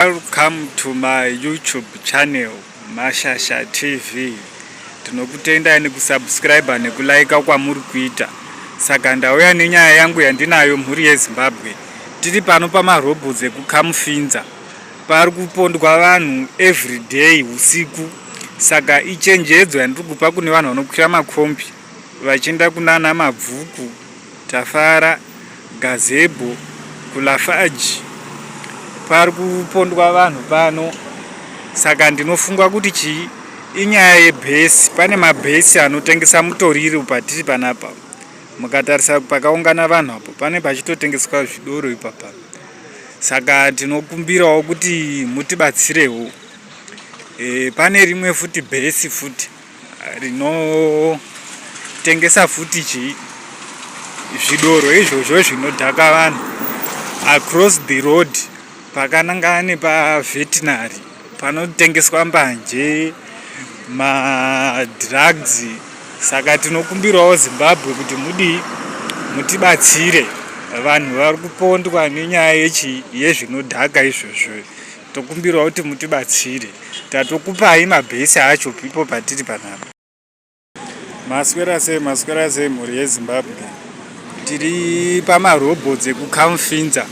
Welcome to my YouTube channel Mashasha TV. Tinokutendai nekusubscribe nekulaika kwamuri kuita. Saka ndauya nenyaya yangu yandinayo mhuri yeZimbabwe. Tiri pano pamarobots ekuKamufinza. Pari kupondwa vanhu every day usiku. Saka ichenjedzo yandiri kupa kune vanhu vanokwira makombi vachienda kunana mabvuku Tafara, Gazebo kuLafarge pari kupondwa vanhu pano saka ndinofunga kuti chii inyaya yebhesi pane mabhesi anotengesa mutoriro patiri panapa mukatarisa pakaungana vanhu apo pane pachitotengeswa zvidoro ipapa saka tinokumbirawo kuti mutibatsirewo e, pane rimwe futi bhesi futi rinotengesa futi chii zvidoro izvozvo zvinodhaka vanhu across the road pakanangana nepavetinary panotengeswa mbanje madrugs saka tinokumbirawo zimbabwe kuti mudii mutibatsire vanhu vari kupondwa nenyaya yechi yezvinodhaka izvozvo Tokumbirwa kuti mutibatsire tatokupai mabhesi acho pipo patiri panapa. Maswera sei maswera sei mhuri yezimbabwe tiri pamarobots ekukamfinza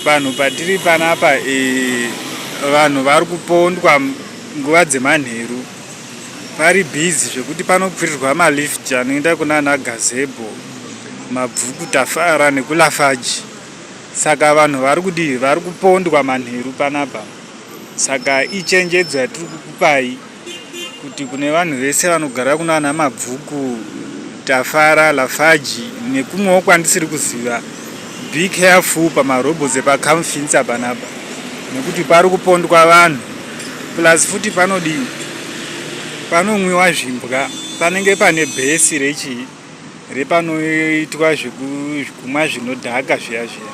panhu patiri panapa e, vanhu vari kupondwa nguva dzemanheru pari bhizi zvekuti panokwirirwa malift anoenda kunana gazebo mabvuku tafara nekulafaji Saka vanhu vari kudii? Vari kupondwa manheru panapa. Saka ichenjedzo yatiri kukupai kuti kune vanhu vese vanogara kunana Mabvuku, Tafara, Lafaji nekumwewo kwandisiri kuziva, be careful pamarobots epaCamfinsa panapa nekuti pari kupondwa vanhu plus futi panodii? Panomwiwa zvimbwa, panenge pane bhesi rechii? repanoitwa zvekumwa zvinodhaka zviya zviya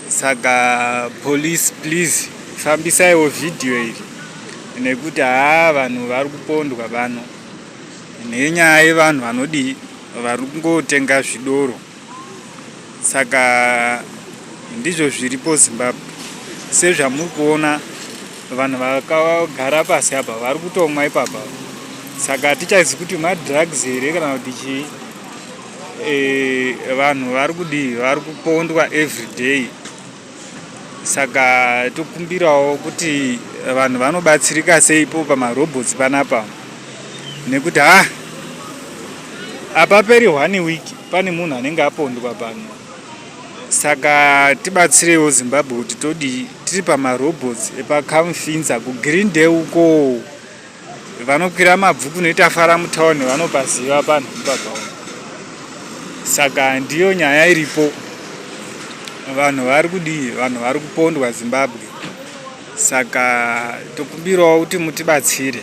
saka police please fambisaiwo vhidhiyo iri nekuti haa vanhu vari kupondwa vano nenyaya yevanhu vanodii vari kungotenga zvidoro saka ndizvo zviripo zimbabwe sezvamuri kuona vanhu vakagara pasi apa vari kutomwa ipapa saka hatichazi kuti madrugs here kana kuti chii e, vanhu vari kudii vari kupondwa every day saka tokumbirawo kuti vanhu vanobatsirika seipo pamarobots panapa nekuti ha ah, apaperi one week pane munhu anenge apondwa pano saka tibatsirewo zimbabwe kuti todii tiri pamarobots epacamfinsa kugreen day ukoo vanokwira mabvuku noita fara mutown vanopaziva panhu pakaoma saka ndiyo nyaya iripo vanhu vari kudii vanhu vari kupondwa zimbabwe saka tokumbirawo kuti mutibatsire